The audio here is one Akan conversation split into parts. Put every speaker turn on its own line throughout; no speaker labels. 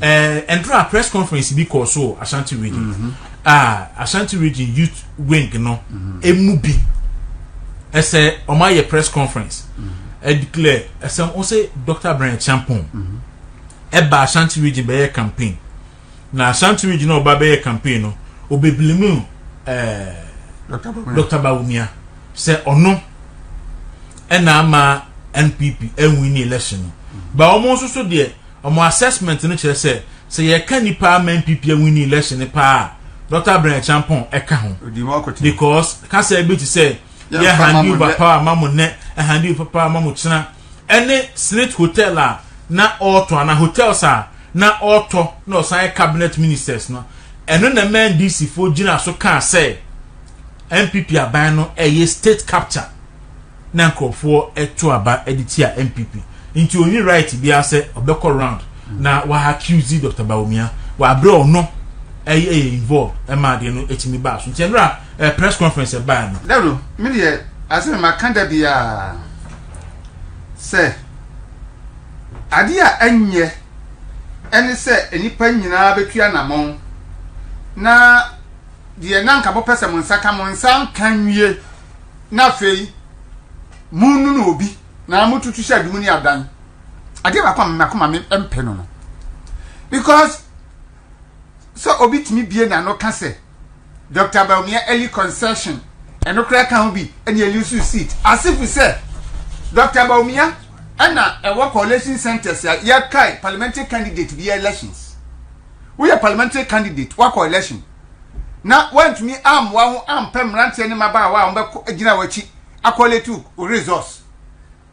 Eh, ɛnora a press conference bi kɔɔ so ashanti region mm-hmm. a ah, ashanti region youth wing no mm-hmm. emu bi ɛsɛ wɔn ayɛ press conference mm-hmm. ɛdeclare ɛsɛ wɔn sɛ dr brian champon ɛba ashanti region bɛyɛ campaign na ashanti region a ɔba bɛyɛ campaign no ɔbɛbilimu ɛɛ eh, dr bawumia sɛ ɔno ɛna ama npp ɛnwin ne election no ba wɔn nso so deɛ. Wɔn assessment no kyerɛ sɛ, sɛ yɛka nnipa ama NPP awini election no paa a, Dɔkta Abraham Acheampong ka ho because kasa bi te sɛ yɛ handi over power ma mo nnɛ, handi over power ma mo kyena, ɛne Senate hotel a na ɔretɔ anaa hotels a na ɔretɔ na ɔsan yɛ cabinet ministers no, ɛno na ɛma NDC foɔ gyina so kaa sɛ NPP aban no ɛyɛ state capture. na nkurɔfoɔ to aba de tia NPP nti ɔnni right biara sɛ ɔbɛkɔ round na wahakiuzi Dɔkta Bawumia wɔ aberɛ ɔno ɛyɛ yɛ involved ɛma adeɛ no ɛtumi baa so nti ɛnora ɛɛ press conference ɛbaa no. Dawuro me deɛ
asɛ me maka da biara sɛ adeɛ a ɛnyɛ ɛne sɛ nnipa nyinaa bɛtu anamɔn na deɛ na nka mopɛ sɛ mo nsa ka mo nsa nka nwie na afei monunu obi na motutu sɛ adum ne adan adeɛ baako a mako ma mpɛ no no because sɛ obi tumi bie na no ka sɛ dr baumia early concession ɛno koraa ka ho bi ɛne elusu seat asifo sɛ dr baumia ɛna ɛwɔ coalition centers a yɛkae parliamentary candidate bi elections woyɛ parliamentary candidate wakɔ election na wantumi ammoa ho ampɛ mmeranteɛ ne mmabaawa a wɔbɛkɔ agyina w'akyi akɔlɛte wo wo resource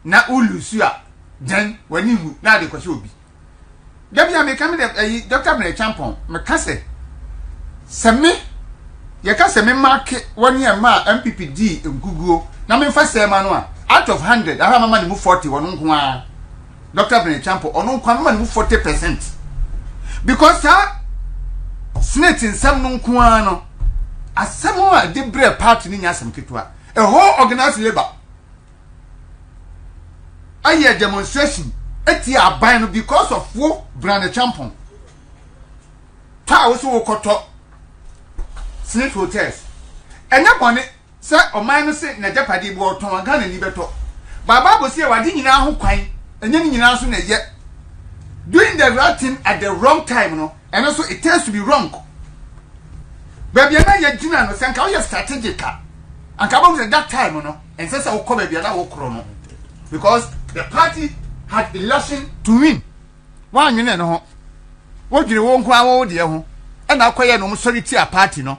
na wo lusu a dɛn w'ani nwu na ade kɔhyɛ obi da bi a meka me dɛ ayi dɔkta mmerɛ kyampɔn meka sɛ sɛ me yɛka sɛ me maake wɔne a ma a mpp dii nkuguo na memfa sɛɛ ma no a out of 100 ahɔ a mama ne mu 40 wɔno nko ara Doctor Benny Champo ɔno nko ano ma ne mu forty percent because saa senate nsɛm no nko ara no asɛm a de brɛ party no nya asɛm ketewa a whole organized labour ayɛ demonstration etia aban no because of wo Benny Champo taa wo so wokɔtɔ senate hotels ɛnyɛ bɔne. Sɛ ɔman no se nagyapade bi ɔɔtɔn a Ghanani bɛtɔ. But bible se yɛwɔ ade nyinaa ho kwan, ɛnyɛ ne nyinaa nso na ɛyɛ. Doing the right thing at the wrong time no, ɛno nso it turns to be wrong. Baabi a na yɛgyina no, sɛ nka woyɛ strategic a, anka wobɛhu sɛ that time no, ɛnsɛ sɛ wokɔ baabi a na wokorɔ no because the party had election to win. Woannwene ɛno ho. Wodwene wo nko ara wo deɛ ho, ɛna wokɔyɛɛ no wɔsɔre tiaa party no.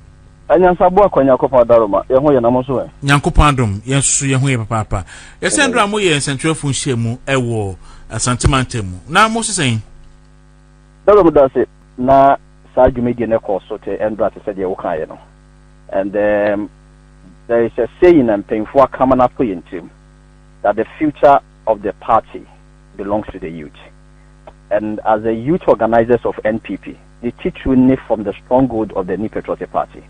Anyansaboa
kwa Nyankopɔn adaro ma yɛn ho yɛ na mo nso ɛ? Nyankopɔn adom yɛn nso
so yɛn ho yɛ papaapa. Yɛsɛ nnora mo yɛ nsɛntwerɛfoɔ nhyiamu wɔ Asante mantam mu na mo sesɛn?
Dawuro meda ase na saa dwumadie no kɔɔ so te nnora te sɛ deɛ wo kaeɛ no and um, there is a saying a mpanyinfoɔ aka ma no ato yɛn tirim that the future of the party belongs to the youth and as the youth organizers of NPP ne titiriw ne From the Stronghold of the New Patriotic Party.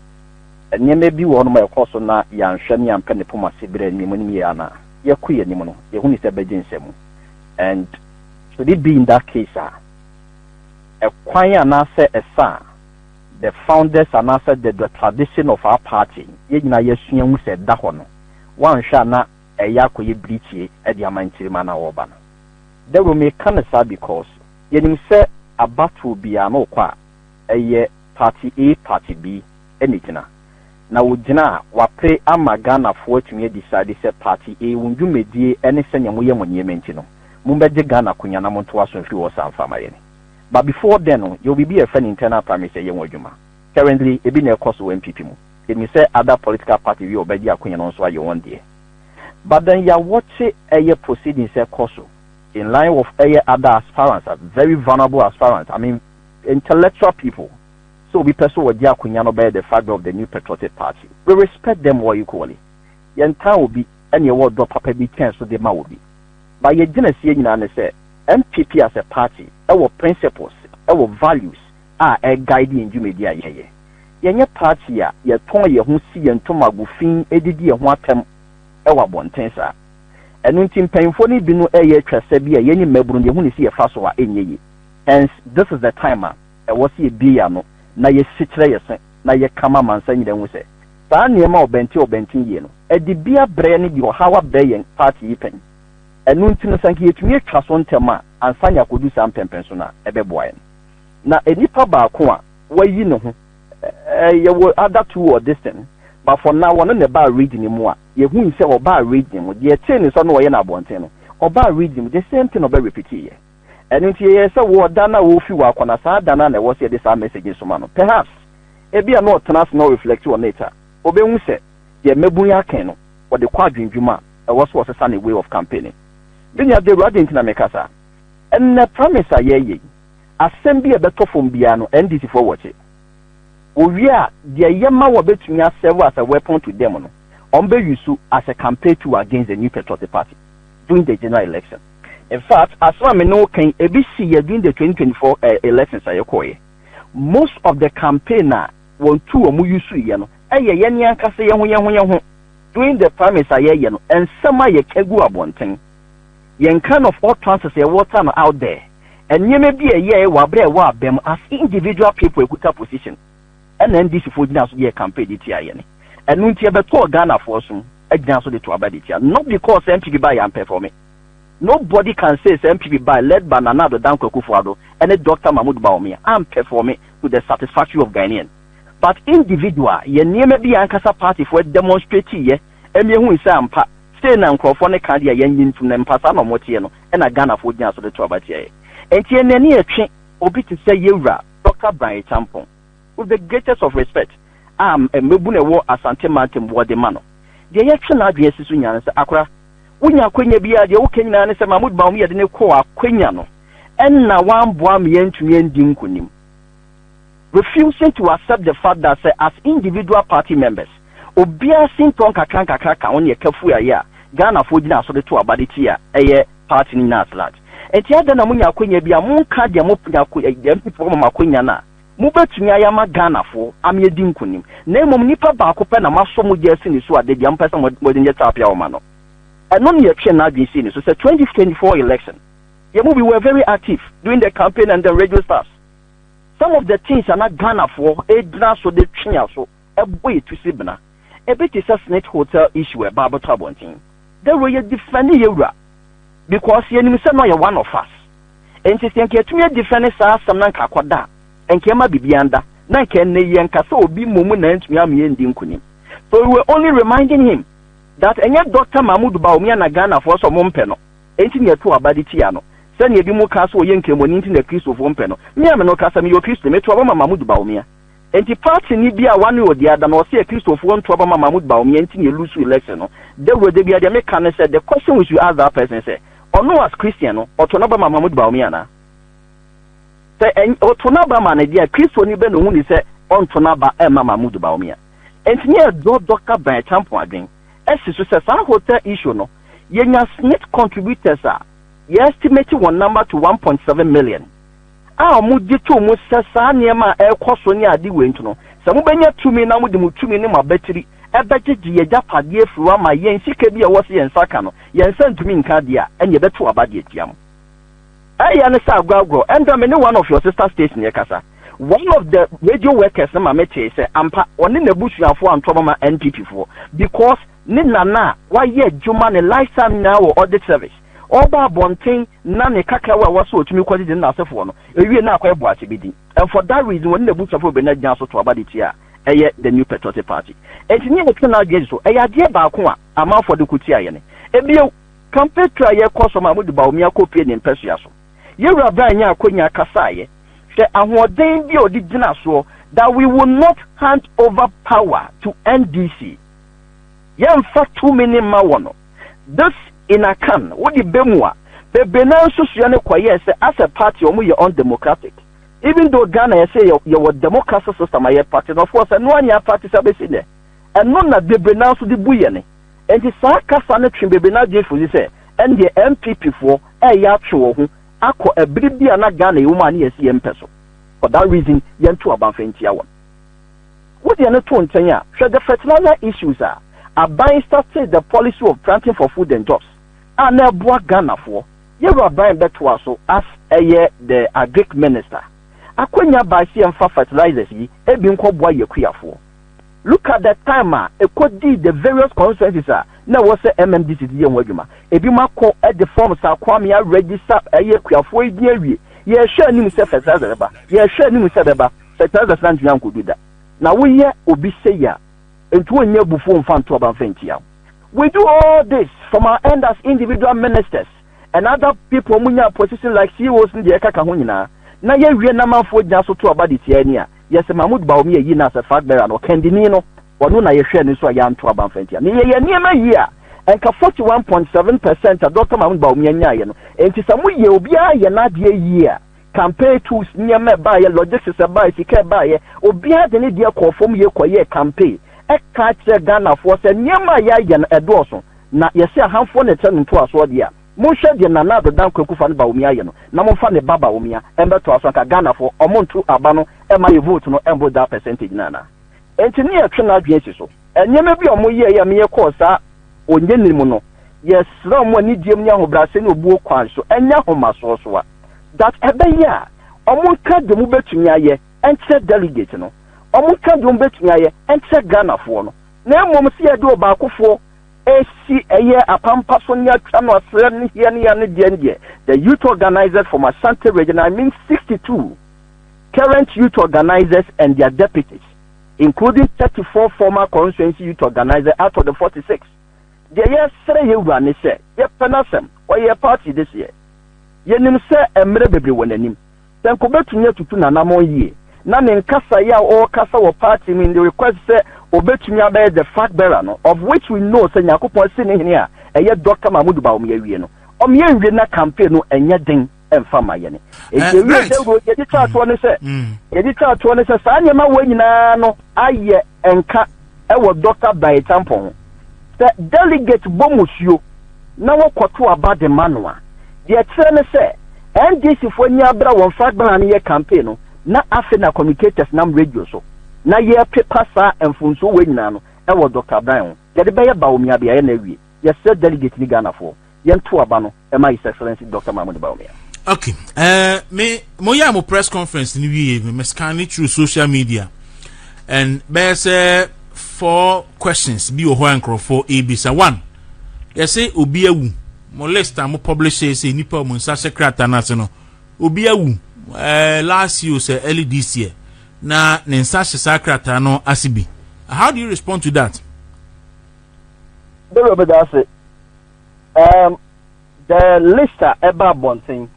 Nneɛma bi wɔ hɔnom a ɛkɔɔ so na yɛanhwɛ na yɛampɛ ne poma ase bere a nneɛma anim yɛɛ a na yɛkɔ yɛn anim no, yehui sɛ ɛbɛgye nsɛm mu. And should it be in that case a, ɛkwan anaasɛ ɛsa a the founders anaasɛ the the tradition of our party yɛn nyinaa yɛasua hu sɛ ɛda hɔ no, woanhwɛ a na ɛyɛ akɔyɛ birikyie de ama ntirim a na wɔreba no. Dawuro, meka no saa because Yɛnim sɛ abatoɔ biara no wokɔ a, ɛyɛ party A party B na ɛgyina. Na wɔgyina a, wɔapere ama Ghanafoɔ atumi a decide sɛ party A wɔn dwumadie ne sɛdeɛ moyɛ mo nneɛma nti no, mommɛgye Ghana akonya na montoa so mfiri hɔ saa mfa ma yɛn. But before then no, yɛwɔ biribi a yɛfrɛ no internal primaries a ɛyɛ ho adwuma. Currently, ɛbi na ɛrekɔ so wɔ NPP mu. Yɛnim sɛ other political party bi a wɔbɛgye akonya no nso ayɛ wɔn deɛ. But then yɛawɔkye ɛyɛ proceedings a ɛrekɔ so. In line of ɛyɛ ada aspirants a very vulnerable aspirants I mean intellectual people sɛ obi pɛ sɛ ɔgye akonya no bɛyɛ the fag of the new patriotic party we respect them all equally yɛntaa obi ɛna yɛwɔ ɔdɔ papa bi kyɛn so de ma obi but yɛ gyinasie nyinaa ne sɛ NPP as a party ɛwɔ principles ɛwɔ values a ɛ guide yɛn dwumadi a yɛyɛ yɛnyɛ party a yɛtɔn yɛn ho si yɛn ntoma gu fi ɛdidi yɛn ho atɛm ɛwɔ abɔnten saa. Ɛno nti mpanyimfoɔ no bi no reyɛ twɛsɛ bi a yɛn mmabunu no yɛhu ne si yɛfa so a ɛnyɛ yie. Hence this is the time a ɛwɔ sɛ yɛbue yɛn ano na yɛsi kyerɛ yɛn se na yɛka ma amansan nyinaa nhu sɛ saa nneɛma a ɔbɛnte ɔbɛnte yie no ɛde bi abrɛ ne de ɔhaw abrɛ yɛn party yi pɛn. Ɛno nti no sɛ anka yɛtumi atwa so ntɛm a ansa ne akɔdu saa mpɛnpɛnso no a ɛbɛboa yɛn. Na nipa baako a wayi ne ho, yɛwɔ other two wɔ this thing but for now ɔno na ɛbaa reading mu a Yehui sɛ ɔbaa Reading mu, deɛ yɛtee ne sɔ na ɔyɛ no abɔnten no, ɔbaa Reading mu, the same thing na ɔbɛ repeat yɛ. Ɛno nti yɛyɛɛ sɛ wɔ da no a ɔrefi hɔ akɔ no, saa da no ara na ɛwɔ sɛ yɛde saa message no soma no. Perhaps, ebia na ɔtena ase na ɔreflect on it a, ɔbɛhu sɛ deɛ mmabun yi akan no, ɔde kɔ adwendwem a, ɛwɔ sɛ ɔsesa ne way of campaigning. Me nua Dawuro, adɛn nti na meka saa? Ɛnnɛ, promise a yɛreyɛ yi, asɛm bi a ɛbɛtɔ fam biara no, NDC-foɔ wɔ akyi. Wowie a, deɛ ɛyɛ ma wɔbɛtumi asɛɛve as a weapon to them no, wɔbɛ use as a campaign tool against the New Patriotic Party during the general election. In fact, asɛm a me ne wo ka yi, ɛbi siiɛ during the twenty twenty four elections a ɛkɔeɛ. Most of the campaign a wɔn tool a wɔn usuiɛ no, ɛyɛ yɛn ankasa yɛn ho yɛn ho yɛn ho. During the primaries a yɛyɛ no, nsɛm a yɛka gu abɔnten, Yɛn kind of all trances yɛ water na out there nneɛma bi a ɛyɛɛe wɔ aberɛ a ɛwɔ abɛ mu as individual people ɛkuta position ɛna NDC foɔ gyina so de yɛ campaign de tia yɛn ɛno nti ɛbɛtɔɔ Ghana foɔ so agyina so de to aba de tia not because NPP baeɛ ampɛfɔme nobody can say sɛ NPP baeɛ led by Nana Addo Dankwa Akufo Addo ɛne Doctor Mahmoud Bawumia ampɛfɔme to the satisfactory of Ghanean but individual yɛ nneɛma bi a ankasa party foɔ demonstrate yɛ Emi ehu sɛ ampa sei na nkorɔfoɔ no ka deɛ yɛnnye ntum na mpa saa na ɔmo teɛ no ɛna Ghanafoɔ gyina so de to aba tia yɛ. Nti ɛnneɛ ne yɛtwe obi te sɛ yɛwura Dɔkta Brian Acheampong with the greatest of respect a mmabunu ɛwɔ Asante mantam wɔ de ma no. Deɛ yɛtwe n'adwene asi so nyinaa ne sɛ akora wonya akwanya bi a deɛ woka nyinaa ne sɛ Mahmoud Bawumia de no kɔɔ akwanya no ɛna wamboa ama yɛantumi andi nkonim. refusing to accept the fact that sɛ as individual party members obiara sintɔ nkakra nkakra ka ho ne ɛkafuayɛ a Ghanafoɔ gyina so de to aba de tia ɛyɛ party no nyinaa at large. Nti adɛn na monya akwanya bi a monka deɛ mo nya ko MP foɔ ama mo akwanya no a mobɛtumi ayɛ ama Ghanafoɔ ama yɛadi nkunim na mmom nipa baako pɛ na moasɔ mogya asi ne so a dabi a mopɛ sɛ mode yɛ tapia ma no. Ɛno na yɛtwee n'adwene sii ne so sɛ 2024 election yɛn mu we were very active during the campaign and the radio staffs. Some of the things a na Ghanafoɔ gyina so de twe yɛn aso bɔ yɛn ti sebena, ebi te sɛ Snit Hotel issue a ɛbaa abɛtɔ abɔnten. Dɛ wei yɛ defɛnde yɛn wura because yɛnim sɛ na ɔyɛ one of us. Nti sɛ nka yɛtumi adefɛnde saa asɛm no anka akɔda a, nka ɛmma biribiara nda na nka ɛnnɛ yi yɛnka sɛ obi mmom na antumi amma yɛandi nkunim. So we were only reminding him that ɛnyɛ Doctor Mahmoud Bawumia na Ghanafoɔ sɛ wɔmpɛ no. Enti nea ɛtoo aba de tia no. Sɛnea ebinom ka sɛ ɔyɛ nkramoani nti na Kristofo mpɛ no. Me a me no, kasa meyɛ Ɔkristoni, meto aba ma Mahmoud Bawumia. Enti partini bi a wanoa odi ada no, ɔse Akristofoɔ nto aba ma Mahmoud Bawumia nti na ɛlusu election no. Dawuro da biara deɛ me ka ne sɛ, the question we should ask that person sɛ, ɔno as Christian no, ɔto n'aba ma Mahmoud Bawumia anaa? Sɛ ɛny ɔto n'aba ma no deɛ a, Kristoni bɛn na ɔhu ne sɛ ɔnto n'aba mma Mahmoud Bawumia? Enti me a dɔ dɔ ka bɛn Acheampong adwen. si so sɛ saa hotel issue no, yɛnya Smith contributors a yɛ estimate wɔn number to one point seven million a wɔn gye to mu sɛ saa nneɛma a ɛrekɔ so ne ade wei nti no, sɛ mobɛnya tumi na mode mo tumi ne mo abatiri bɛgyegye yɛ agyapadeɛ afiri hɔ ama yɛn sika bi a ɛwɔ sɛ yɛn nsa ka no, yɛn nsa ntumi nka deɛ a, ɛnneɛ yɛbɛto aba de atia mo. Ɛyɛ ne saa aguagurɔ ɛnda me ne one of your sister station rekasa one of the radio workers no ma me tee sɛ ampa ɔne n'abusuafoɔ anto ɔmama NPP foɔ because ne nana a wayɛ adwuma ne life time nyinaa wɔ audit service ɔba abɔnten na ne kakrawa a ɛwɔ so ɔtumi kɔgye de ne n'asefoɔ no ɛwie na akɔyɛ boakye bi din and for that reason ɔne n'abusuafoɔ bɛnya gyina so to aba de tia ɛyɛ the new patriotic party ɛnti ne yɛtwe n'adwene si so ɛyɛ adeɛ baako a amanfoɔ de ko tia yɛne ebio Kampetu a yɛkɔ so ma mode Bawumia kɔpue ne mpasua so. Yɛn wura Brian nyaa akwanya kasaeɛ. Hwɛ ahoɔden bi a ɔde gyina soɔ that we will not hand over power to NDC. Yɛnfa tumi no mma wɔn. This in Akan, wode bɛmu a, bebree no ara nsusuiɛ no kɔyɛɛ sɛ as a party wɔn yɛ undemocratic. Even though Ghana yɛse yɛ yɛwɔ democracy system a yɛ practice no, of course ɛno ara nyɛ practice abɛsi nnɛ. Ɛno na bebree no ara nso de bu yɛn. Enti saa kasa no twe bebree no adwene firi so sɛ, ɛnneɛ NPPfoɔ reyɛ atwe wɔn ho akɔ ɛbere bi a na Ghana yɛwɔ mu a na yɛasi yɛn mpɛ so. For that reason, yɛnto aba mfa ntia wɔn. Wode ɛno to nkyɛn a, hwɛ the fertilizer issues a aban startee the policy of planting for food and jobs a na ɛboa Ghanafoɔ. Yɛwura Bain bɛtoa so as ɛyɛ the Agric Minister. Akwanya bae sɛ yɛmfa fertilizers yi bi nkɔboa yɛn akuafoɔ. Look at the time a ɛkɔdii the various constituencies a na ɛwɔ sɛ MMDCs yɛ ho adwuma. Ebinom akɔ de forms a Kwame aregister ɛyɛ akuafoɔ yi din awie. Yɛrehwɛ anim sɛ fertilizer bɛba, yɛrehwɛ anim sɛ ɛbɛba, fertilizers no antumi ankɔdu da. Na woyɛ obi sei a, nti wonnya abufuo mfa nto aba mfa ntia wo. We do all this from our end as individual ministers. and other people a wɔnyaa position like CEOs ne deɛ ɛka ka ho nyinaa, na yɛwie na amanfoɔ gyina so to aba de tia yɛn a, yɛse Mahmoud Bawumia yii no as a flag bearer no, ɔkandini no, ɔno na yɛhwɛɛ no nso a yɛanto aba amfa antia no. Yɛyɛ nneɛma yie a, nka forty one point seven percent a Dɔkta Mahmoud Bawumia nyaaeɛ no, enti sɛ moyɛ, obiara yɛ n'adeɛ yie a, campaign tools, nneɛma ɛbaeɛ, logistics ɛbaeɛ, sika ɛbaeɛ, obiara de ne deɛ kɔɔ fam yie kɔyɛɛ campaign, ɛkaa kyerɛɛ Ghanafoɔ sɛ nneɛma a yɛayɛ no ɛdɔɔso, Na yɛse ahanfoɔ na ɛkyɛ no ntoasoɔ deɛ a, monhwɛ deɛ Nana Addo Dankwa Akuffo Addo Bawumia ayɛ no na momfa ne ba Bawumia mmɛtoa so anka Ghanafoɔ ɔmo nto aba no mma yɛ vote no mmoro daa percentage no anaa? Enti ne yɛtwe n'adwene asi so. Nneɛma bi a ɔmo yɛɛe a meyɛ kɔɔ saa onyenini mu no, yɛsrɛɛ ɔmo anigyeɛm ne ahobrɛaseɛ ne obuo kwan so ɛnyɛ ahomasoɔ so a that ɛbɛyɛ a ɔmo nka deɛ ɔmo bɛtumi ayɛ nkyerɛ delegate no, ɔmo nka deɛ ɔmo bɛtumi ayɛ nkyerɛ Ghanafoɔ no. na mmom sɛ yɛde ɔbaakofoɔ resi ɛyɛ apampa so ne atwa no asrɛ no hia ne yɛn no deɛ ndeɛ the youth organisers from Ashanti region I mean 62 current youth organisers and their deputies including 34 former constituency youth organisers out of the 46 deɛ yɛsrɛ yɛ wura ne sɛ yɛpɛ n'asɛm ɔyɛ party deseɛ yɛnim sɛ mmerɛ bebree wɔ n'anim Senko betumi atutu n'anammɔn yiye, na ne nkasae a ɔrekasa wɔ party mu in the request sɛ obetumi abɛyɛ the flag bearer no, of which we know sɛ Nyankopɔn asi ne hene a ɛyɛ Doctor Mahmoud Bawumia awie no. Ɔmmea nwie na campaign no nyɛ den mfa mma yɛne. Enti ewiee sɛ nko, yɛde twaa toɔ ne sɛ, yɛde twaa toɔ ne sɛ saa nneɛma wei nyinaa no ayɛ nka, wɔ Dɔkta Bae Tampon ho. Sɛ delegate bɔ musuo na wɔkɔto aba de ma no a, deɛ ɛkyerɛ ne sɛ NDC foɔ ani abere a wɔn mfa agbala no yɛ campaign no na afei na communicators nam radio so na yɛrepepa saa mfomsoɔ wei nyinaa no wɔ Dɔkta Bae ho. Yɛde bɛyɛ Bawumia beaeɛ na awie. Yɛsrɛ delegate ne Ghanafoɔ. yɛn to aba no ɛma his excellency dr mahmoud bawumia. ok ɛɛ
eh, me mo yɛ mo press conference ni wie me me scan it through social media and bɛyɛ sɛ four questions bi wɔ hɔ a nkurɔfoɔ ebisa one yɛsɛ obi awu mo list a mo publish yɛ sɛ nipa wɔn nsa hyɛ krataa n'ase no obi awu ɛɛ eh, last year sɛ early this year na ne nsa hyɛ saa krataa no ase bi how do you respond to that. bẹ́ẹ̀ bẹ́ẹ̀ dá ase
Um, the list a ɛba abɔnten,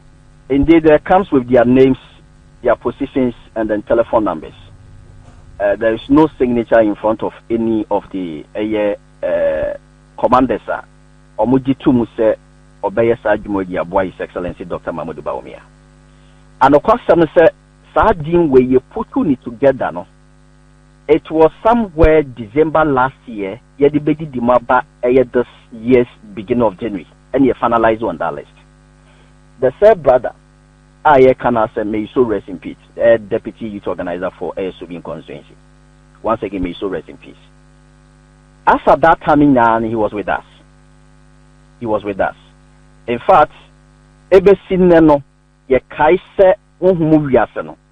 indeed it comes with their names, their positions, and then telephone numbers. Uh, there is no signature in front of any of the ɛyɛ uh, commanders a wɔn gye to mu sɛ ɔbɛyɛ saa adwuma di aboa his excellency dr mahmudu bawumia anokwasɛm sɛ saa din wei yɛ putu ne together no It was somewhere December last year yɛde bɛdidi mu aba ɛyɛ this year's beginning of January ɛna yɛ finalise on that list. The said brother a yɛreka no asɛm, may his soul rest in peace, ɛyɛ Deputy Youth Organiser for ɛyɛ Soubin Constituency. Once again, may his soul rest in peace. As at that time nyinaa no, he was with us. He was with us. In fact, ɛbɛsi nnɛ no, yɛkae sɛ honhom wiase no,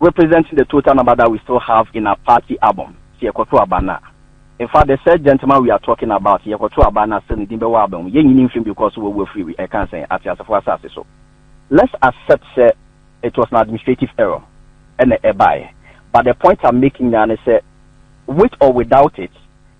representing the total number that we still have in our party album sɛ yɛkɔto aba no a in fact the said gentleman we are talking about sɛ yɛkɔto aba no a still ne din bɛwɔ album mu yɛnyi ne mfiri mu because wawu afiri wi ɛkan sɛn ateasefo asase so let's accept sɛ it was an administrative error ɛna ɛbaeɛ but the point I'm making nyinaa ne sɛ with or without it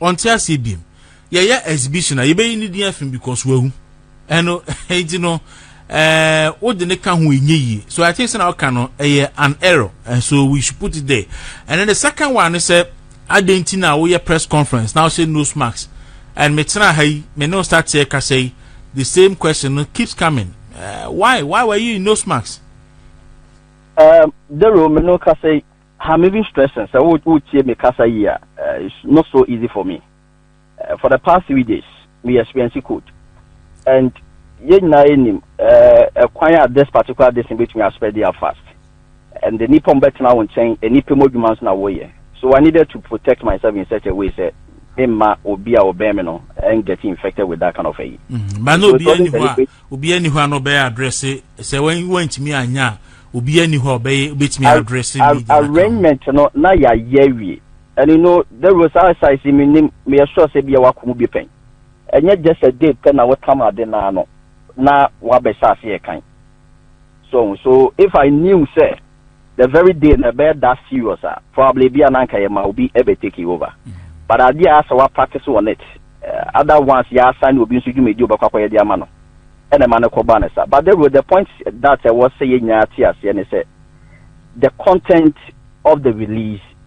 ɔnte aseɛ biem yɛyɛ exhibition a yɛbɛyi ne din afi because wawu ɛno nti no ɛɛ wode ne ka ho ɛnyɛ yie so i think sɛ na ɔka no ɛyɛ an error and so we should put it there and then the second one ne sɛ adɛn nti na woyɛ press conference na wohyɛ nose mask and metena ha yi me ne start sɛ kasa yi the same question no keeps coming uh, why why were you in nose mask um,
dero me no kasa yi I'm even stressing sɛ wotie me kasa yie a it's not so easy for me for the past three days me experience cold and yɛn nyinaa yɛnim ɛkwan a this particular this betumi aspɛ dia fast and the nipa mo bɛtena wo nkyɛn nipa mu adwuma nso na woyɛ so I needed to protect myself in such a way sɛ me mma obi a ɔbɛn me no and get infected with that kind of ayi. Mm, ba na obi ani hɔ
a Obiara nni hɔ a na ɔbɛyɛ adrɛse sɛ wantumi anyɛ a obiara nni hɔ a ɔbɛyɛ obetumi adrɛse mi de aka arrangement no
na yɛayɛ awie and you know Dawuro saa size yi me nim meyɛ sure sɛ bia wako mu bi pɛn ɛnyɛ just a day pɛ na wotam ade naa no na wabɛhyɛ aseɛ kan so so if I knew sɛ the very day na ɛbɛyɛ that serious a probably bi a na anka yɛ ma obi ɛbɛ take over but adeɛ a asɛ wa practice on it uh, other ones yɛ asan ne obi nso dwumadi ɔbɛkɔ akɔyɛ de ama no ɛna ɛma no kɔ ba ne sa but the, the point that ɛwɔ sɛ yɛ nyinaa te aseɛ ne sɛ the content of the release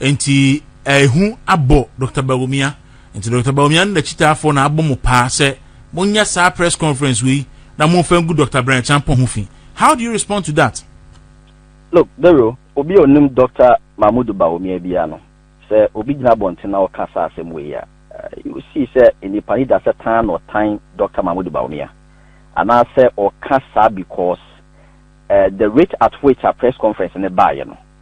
Nti ɛhu abɔ Dr. Bawumia. Nti Dr. Bawumia ne n'akyitaafoɔ na abɔ mo paa sɛ monyɛ saa press conference wei na momfa ngu Dr. Brian Acheampong ho fi. How do you respond to that? Look,
Dero, obi a onim Dr. Mahmood Bawumia biara no, sɛ obi gyina abɔnten na ɔka saa asɛm wei a, you will see sɛ nnipa ani da sɛ tan na ɔtan Dr. Mahmood Bawumia. Anaasɛ ɔka saa because eh, the rate at which a press conference no baeɛ no,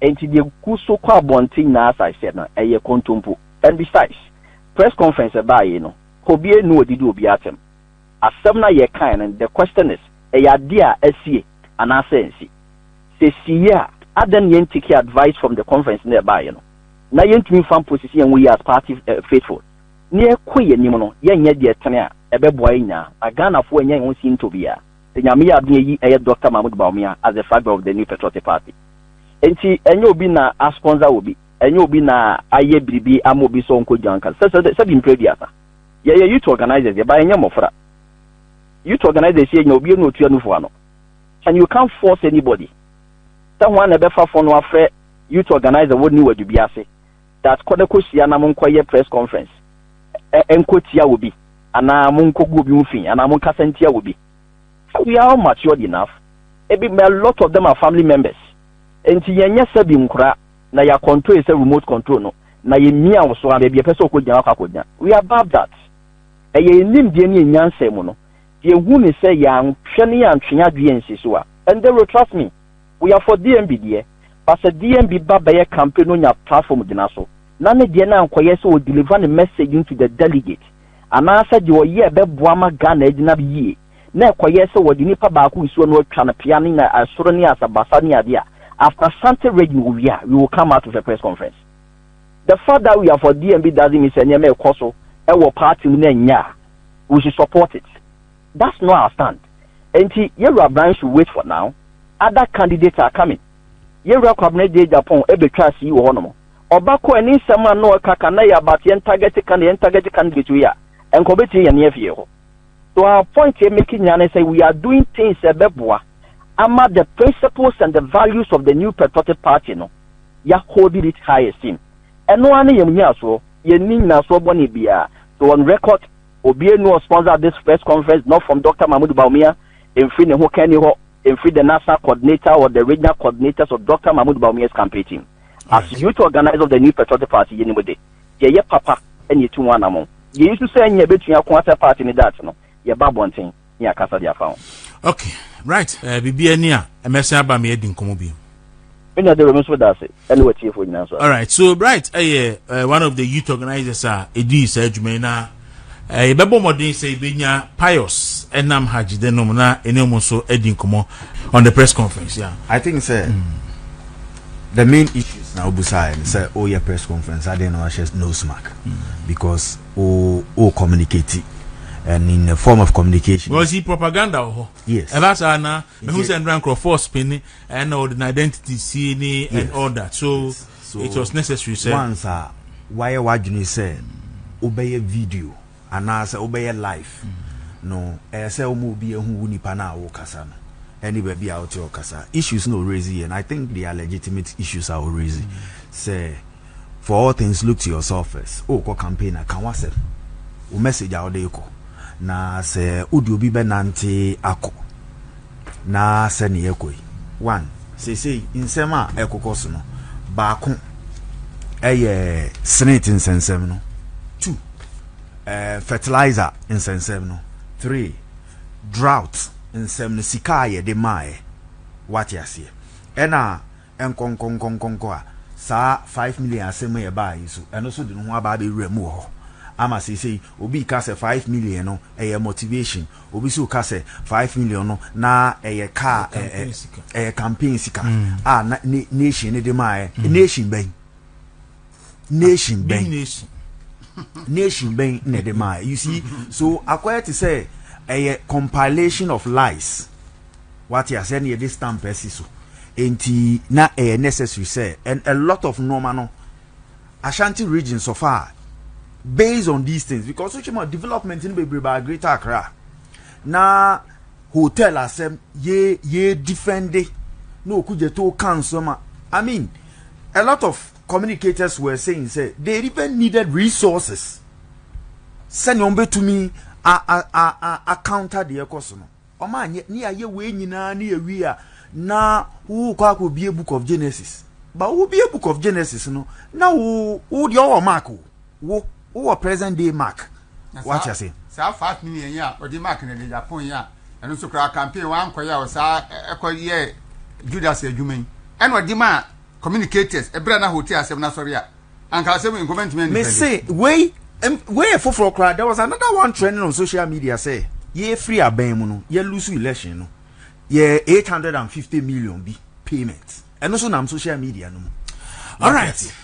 Enti deɛ gu so kɔ abɔnten nyinaa as I said no ɛyɛ kontompo and besides press conference ɛbaa yei no kɔbie ne wɔdidi obiara atɛm asɛm no a yɛkaeɛ no the question is ɛyɛ adeɛ a asie anaa sɛ ansi sɛ ɛsiiɛ a adɛn na yɛn take advice from the conference no a ɛbaaeɛ no na yɛntumi mfa mposisi yɛn ho yie as party faithful na yɛkɔ yɛn anim no yɛnyɛ deɛ ɛtene a ɛbɛboa yɛn nyinaa na Ghanafoɔ ɛnyɛ yɛn ho sintɔ biara. Sɛ Nyame yɛ adom a eyi ɛyɛ Doctor Mahmoud Bawumia as the flag bearer of the New Patriotic Party. Enti ɛnyɛ obi na a sponsor obi, ɛnyɛ obi na a ayɛ biribi ama obi sɛ ɔnkɔ dwa nka. Sɛsɛdɛ sɛbi mprɛ aduasa. Yɛyɛ youth organisers deɛ but yɛnyɛ mmɔfra. Youth organisers yɛ nya obia na otua nufoɔ ano and you can't force anybody sɛ hwan na ɛbɛfa fon no afrɛ youth organiser wɔ New Adu bi ase that kɔ na kɔ hyia na mo nkɔ yɛ press conference ɛ ɛ nkɔ tia obi anaa mo nkɔ gu obi ho fi anaa mo nkasa ntia obi hɛ we are all matured enough ebi a lot of them are family members nti yɛn nyɛ sɛbi nkora na yɛ akɔntro yɛ sɛ remote control no na yɛ mia wo so a baabi ɛpɛ sɛ ɔkɔ gyina wakɔ akɔ gyina we are above that ɛyɛ yɛn nimdeɛ ne yɛn nyansa mu no yɛ hu ne sɛ yɛ anhwɛ ne yɛ antwe yɛ adweɛ ansi so a ɛndɛ ro trust me. Woya for DMB deɛ but sɛ DMB ba bɛyɛ campaign na onya platform gyina so na ne deɛ no ankɔyɛ sɛ ɔ deliver ne message into the delegate anaa sɛ deɛ ɔyɛ a ɛbɛboa ama Ghana agyina yie na ɛkɔyɛ sɛ wɔde nipa baako nsuo no atwa no pea ne na ɛsoro ne asabasa ne adeɛ a after Asante regime ɔwie a we will come out with a press conference. The fact that we are for DMB doesn't mean sɛ nneɛma ɛkɔ so ɛwɔ party mu no ɛnyɛ a we should support it. That's not our stand enti yɛwura Brian should wait for now, other candidates are coming yɛwura Kwabena Agyapong bɛtwaa sii wɔ hɔ nom, ɔba kɔ a ne nsɛm a na ɔreka ka na ɛyɛ about yɛn target candidate yɛn target candidate wei a nka ɔbɛtumi yɛne afie yɛ hɔ. So our point yɛ make nyinaa ne sɛ we are doing things a ɛbɛboa ama the principles and the values of the New Patriotic Party no yɛ hold it high esteem ɛno ara ne yɛn nnyinasoɔ, yɛnni nnyinasoɔ bɔne biara so on record, Obie Nuo sponsored this press conference not from Doctor Mahmoud Bawumia ɛmfiri ne ho kanni hɔ ɛmfiri the national coordinator or the regional coordinators of Doctor Mahmoud Bawumia's campaign team. As youth organiser of the New Patriotic Party yɛnim de yɛyɛ papa ɛna yɛtu ho anamɔn. Yɛyi so sɛ nyɛ bɛtua ko asɛ party no dat no yɛba abɔnten. ne akasa de afa ho. Okay,
right. Uh, eh, Bibi ani a, ɛmɛsɛn aba me adi nkɔmɔ bi. Me nua Dero, me
nso da ase, ɛne watiefo nyinaa nso. Alright, so right,
ɛyɛ uh, eh, one of the youth organizers a ɛdi saa adwuma yi na eh, yɛbɛbɔ mmɔden sɛ yɛbɛnya pious ɛnam hajide nom na ɛne mu nso adi nkɔmɔ on the press conference. Yeah. I think sɛ mm.
the main issues na obusae ne sɛ woyɛ press conference adɛn na wahyɛ nose mark because o o communicate and in the form of communication. Because he propaganda wɔ
hɔ. Yes. Ɛba saa
na
mehu sɛ ndra nkorɔfoɔ spinning ɛna ɔde na identity si ni and all that so, yes. so it was necessary sɛ. Once a
wayɛ wadwene sɛ wobɛyɛ video. Anaa sɛ wobɛyɛ live no ɛyɛ sɛ woma obiaa hu wo nipa no a wokasa no ɛne baabi a wote ɔkasa issues na ɔraise yi and I think they are legitimate issues a ɔraise sɛ for all things look to yourself first wokɔ campaign a ka w'asɛm wo message a wode rekɔ na sɛ wode obi bɛnante akɔ Na sɛnea ɛrekɔ yi, one, seesei nsɛm a ɛkokɔ so no, baako ɛyɛ senate nsɛnsɛm no, two, ɛɛ fertilizer nsɛnsɛm no, three, drought nsɛm no, sika a yɛde maaɛ, wate aseɛ, ɛna. nkɔnkɔnkɔnkɔnkɔ a saa five million asɛm a ɛbaa yi so, ɛno nso de ne ho aba abɛwura mu wɔ hɔ. Ama seesei obi reka sɛ five million no ɛyɛ motivation, obi nso reka sɛ five million no na ɛyɛ kaa, ɛyɛ campaign sika a na nation no de maaɛ. Nation bɛn? nation bɛn nation bɛn na ɛde maa you see so akɔyɛ te sɛ ɛyɛ compilation of lies wate asɛ ne yɛde stamp asi so nti na ɛyɛ necessary sɛ and a lot of nneɛma no ashanti region so far based on these things because wokyɛ mu development no bebree baa greater accra na hotel asɛm ye ye defende na okudzeto ka nsɛm a i mean a lot of communicators were saying sɛ they even needed resources sɛnea wɔn betumi a a a a a counter deɛ ɛkɔ so no wɔn anyɛ ne ayɛ wei nyinaa ne awie a na wokɔ akɔbie book of genesis ba wobie book of genesis no na wo wo deɛ ɔwɔ mark o Wo wowɔ present day mark. Wate ase. Saa fast meaning yɛn a
ɔde mark na de Japan yɛn a ɛno nso koraa campaign wankɔ yɛ a ɔsaa ɛkɔ yɛ Judas adwuma yi. Ɛna ɔde ma communicators ɛberɛ na hotel asɛm no asɔre a anka asɛm nkɔmɛ ntumi ɛnifɛde. Me se wei
wei yɛ foforɔ koraa there was another one trending on social media sɛ yɛfiri abɛn mu no yɛ lose election no yɛ 850 million bi
payment
ɛno nso nam social media no mu. Alright.